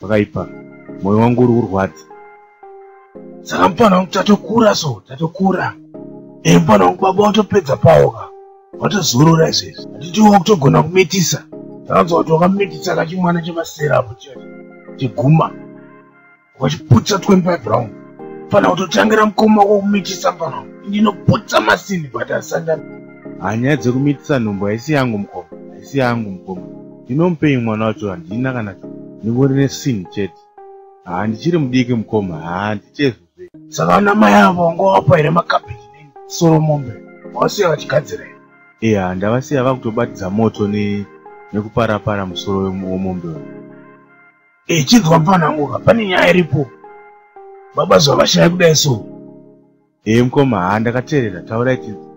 Pakaipa. Moyo wangu uri kurwadza. Saka mupana wangu tatokura so, tatokura. Eh mupana wangu baba watopedza pawo ka. Watozorora izvezvi. Hatitiwo kutogona kumitisa. Takanzwa kuti wakamitisa kachimwana chemasera apo chete. Chiguma. Wachiputsa 25 round. Mupana kutotangira mukoma wako kumitisa mupana wangu. Ndinoputsa masini but asanda. Hanyaya dzekumitisa nhumbu haisi yangu mukoma. Haisi yangu mukoma. ndinomupei mwana wacho handina kana ndingori nesin chete haa ndichiri mudiki mukoma haa ndichezvo saka ana mai avo wanga wapa here makabeji nini soro mombe wasiya vachigadzira here iya ndavasiya vakutobatidza moto ne nekuparapara musoro wemombe uyu e chinzwa mfananguka pane nyaya iripo baba zvavashaya kudai so Hee mkoma haa ndakateerera taurai tinzi.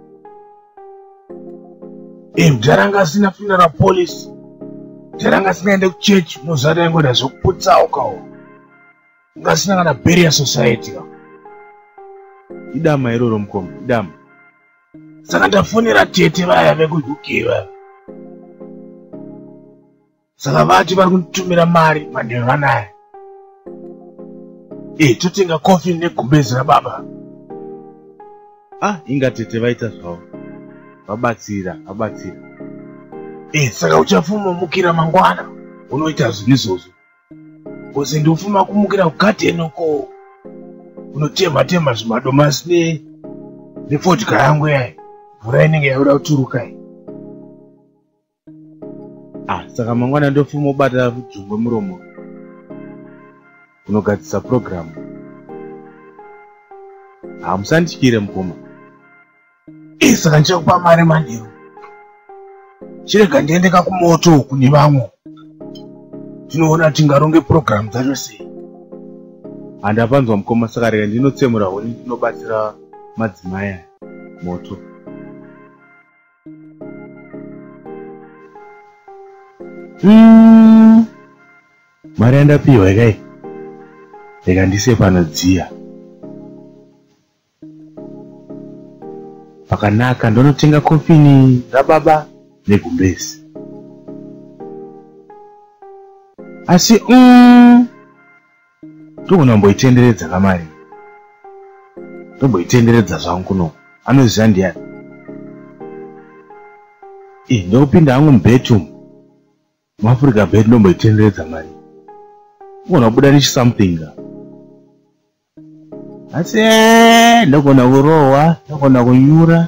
Ee mdhara anga asina funeral policy. Mdhara anga asingaende kuchechi mozvara yangoda zvokuputsawo kawo. Anga asina kana barrier society kawo. Idama iroro mkoma idama. Saka ndafonera tete vaya vekuUK vaya. saka vati vari kunditumira mari manheru vanaya e eh, totenga coffin negumbezi rababa ah inga tete vaita zvavo vabatsira vabatsira e eh, saka uchafumamukira mangwana unoita zvinhu izvozvo kozi ndofuma kumukira kugadeni uko unotemha temha zvimadomasi ne nefodya yangu yayi mvura inenge yauda kuturukai ah saka mangwana ndofuma ubata jongwe muromo unogadzisa purogiramu hamusandityire ah, mukoma ii eh, saka ndichakupa mari manheru chirega ndiende kakumoto kune vamwe tinoona tingaronge purogiramu dzacho sei handapanzwa ah, mukoma saka rega ndinotsemura huni ndinobatsira madzimai moto Hmm. mari yandapiwa ikai reka ndise panodziya pakanaka ndonotenga kofini rababa negumbezi asi um, ndogona kumboitenderedza kamari ndomboitenderedza zvangu kuno anoziva ndiyani i eh, ndokupinda hangu mubedroom muafrica bed ndomboitenderedza mari ugona kubuda nechisomething ka asi eh, ndogona kurohwa ndogona kunyura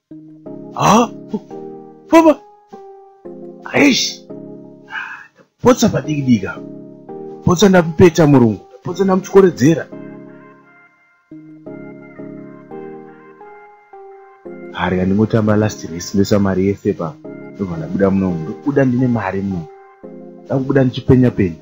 ha baba aish ndapotsa padiki diki apa ndapotsa ndamupeta murungu ndapotsa ndamutyoledzera hari kandingotamba last race ndoisa mari yese pa ndobva ndabuda munomu ndokubuda ndine mari munomu ndakubuda ndichipenya penya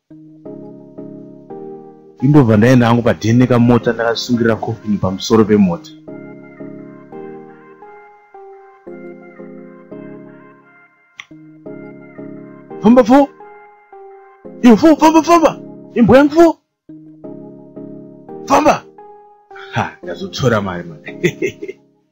indobva ndaenda hangu padheni nekamota ndakasungirira kofini pamusoro pemota famba fo iyo fo famba famba imbwa yangu fo famba ha ndazotora mari mari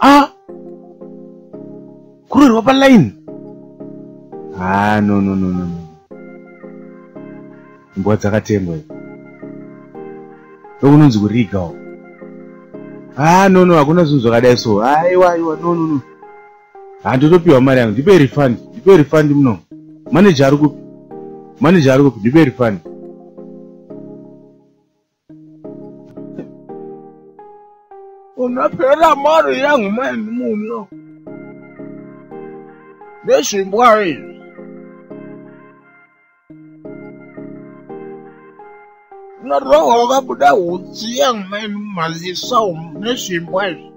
ah kurerwa pa line ah no no no no mbwa dzakatengwa idzi ndokunonzi kuriga o ah no no hakuna zvinhu zvakadai so aiwa aiwa no no no handotopiwa mari yangu ndipe refund ndipe refund muno manager ari kupi manager ari kupi ndipe refund unapera mari yangu maini muno nezvimbwa izvi unarohwa wakabuda hutsi yangu maini mumaziso nezvimbwa izvi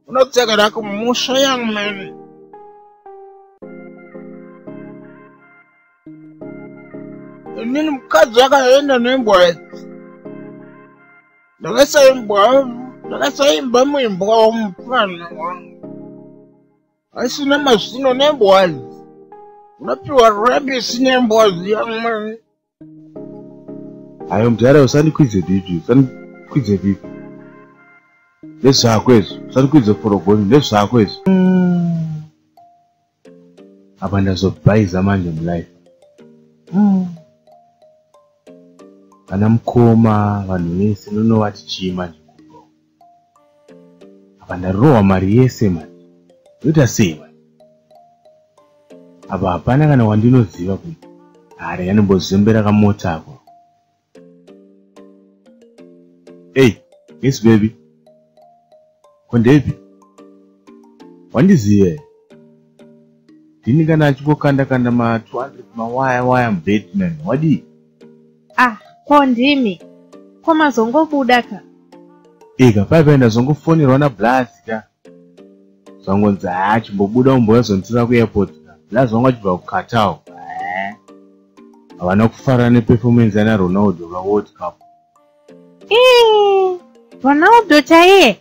unodzokera kumusha yangu maini inini mukadzi akaenda nembwa ndakasaimbwa ndakasaimba muimbwa wamupana wangu asina mazino nembwa unopiwa rabisi nembwa ziyamani ayo mudhara usandikwidze bibi usandikwidze bibi nezvako izvo usandikwidze forogoni nezvako izvo mm. apa ndazobhaiza manje mulife mm. vana mukoma vanhu vese nonovati chii manje kurowa apa ndarowa mari yese manje ndoita sei manje apa hapana kana wandinoziva kuti hari yanombozembera kamota ako Hey, Miss Baby. Kondepi? Wandiziva here? Ndini kana achingokanda kanda ma 200 mawaya waya muBatman. Wadii? Ah, ko ndimi. Ko mazongobuda ka? Ika, paipa ndazongofonerwa naBlaz ka. zvangonzi haa chimbobuda umbouya zonditira kuairport blaz vanga vachibva kuqatar havana kufara neperformance yana ronaldo vaworld cup eh, ronaldo chaiye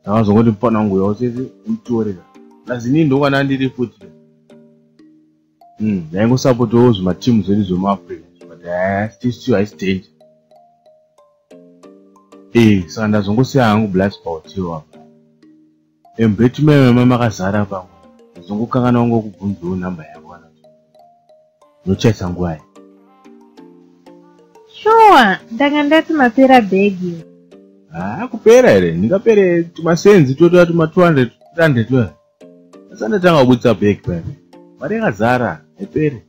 ndakazongoti mufana wangu uya usese umtorera blaz inii ndokwana ndiri futi mm, ndaingosapotawo mm, zvimatimu zvedu zvemuafrica but eh, still still haisi danger ee eh, saka ndazongosiya hangu black spautiwo apa embeti meme makazara pamwe ndazongokangana wangu wekubvunzawo nhamba yavo kana nochaisa nguva ye shuwa ndanga ndati mapera bhegi haa kupera here ndingapere tumasenzi totova tuma 200 300 Asandotanga kubudisa bag paya. Mari yakazara haiperi.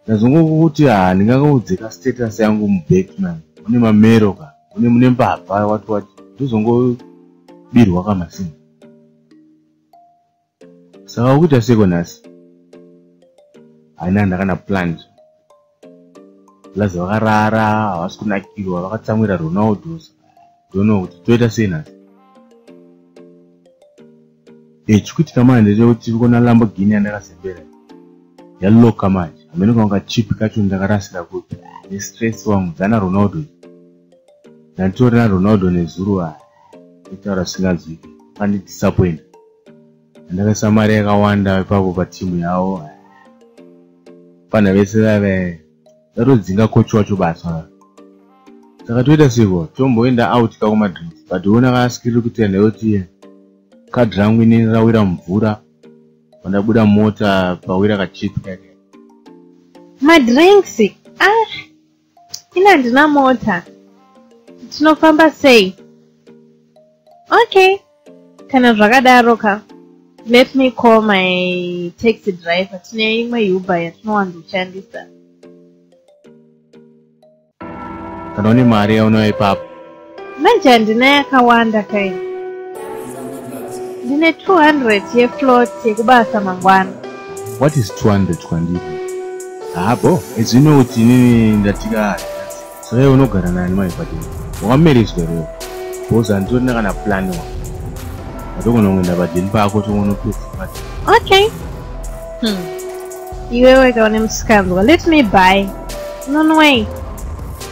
Ndazongokuti ha ah, ndingangoudze ka status yangu mu bag man. Mune mamero ka. Mune mune mbavha wati wati. Ndozongobirwa ka masini. Saka ukuita seko nhasi. Haina ndakana planned. plus vakarara havasi kunakirwa vakatsamwira ronaldo dono kuti toita sei nhasi e chikuitika manje ndechekuti tiri kuona lamborghini yandakazembera yaloka manje hamene kwanga chipi kacho ndakarasira kupi nestress wangu dzana ronaldo ndanditorina ronaldo nezuru a itaura singanzwiki pandidisappointa ndakaisa mari yakawanda ipapo patimu yavo vana vese vave vatodzinga coach wacho basa saka toita seko tomboenda out ka kumadrid but ona kaskiri kuti enda yoti kad rangu inini rawira mvura vandabuda mota pawira kachipi kake madrinks ah ini handina mota tinofamba sei okay kana zvakadaro ka let me call my taxi driver tine imwe uber yatinowandoshandisa kana une mari yaunoya ipapo Manje handina yakawanda kaini. Ndine 200 yeflot yekubasa mangwana. What is 200 kwandiri? Haa bo, as you know kuti inini ndatika saka iwe unogara nani mai kwati wakamerezwa reo bhoza handitorina kana plan wa ndatogona kungoenda padeni pako tongonotofumat okay hmm. iwewe kaune musikanzwa let me buy nonway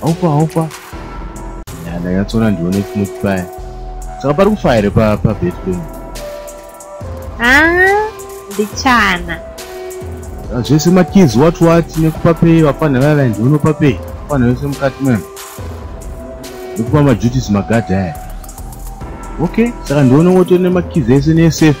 Haupa haupa. Ya ndakatsona ndione chimwe chipaya. Saka pari kufa here pa pa bedroom? Ah, ndichana. Ah, zvese makids what what nekupa pay vafana vava ndinopa pay. Vafana vese mukati mwe. Nekupa ma duties magadhi aya. Okay, saka ndione wotone makids ese ne safe.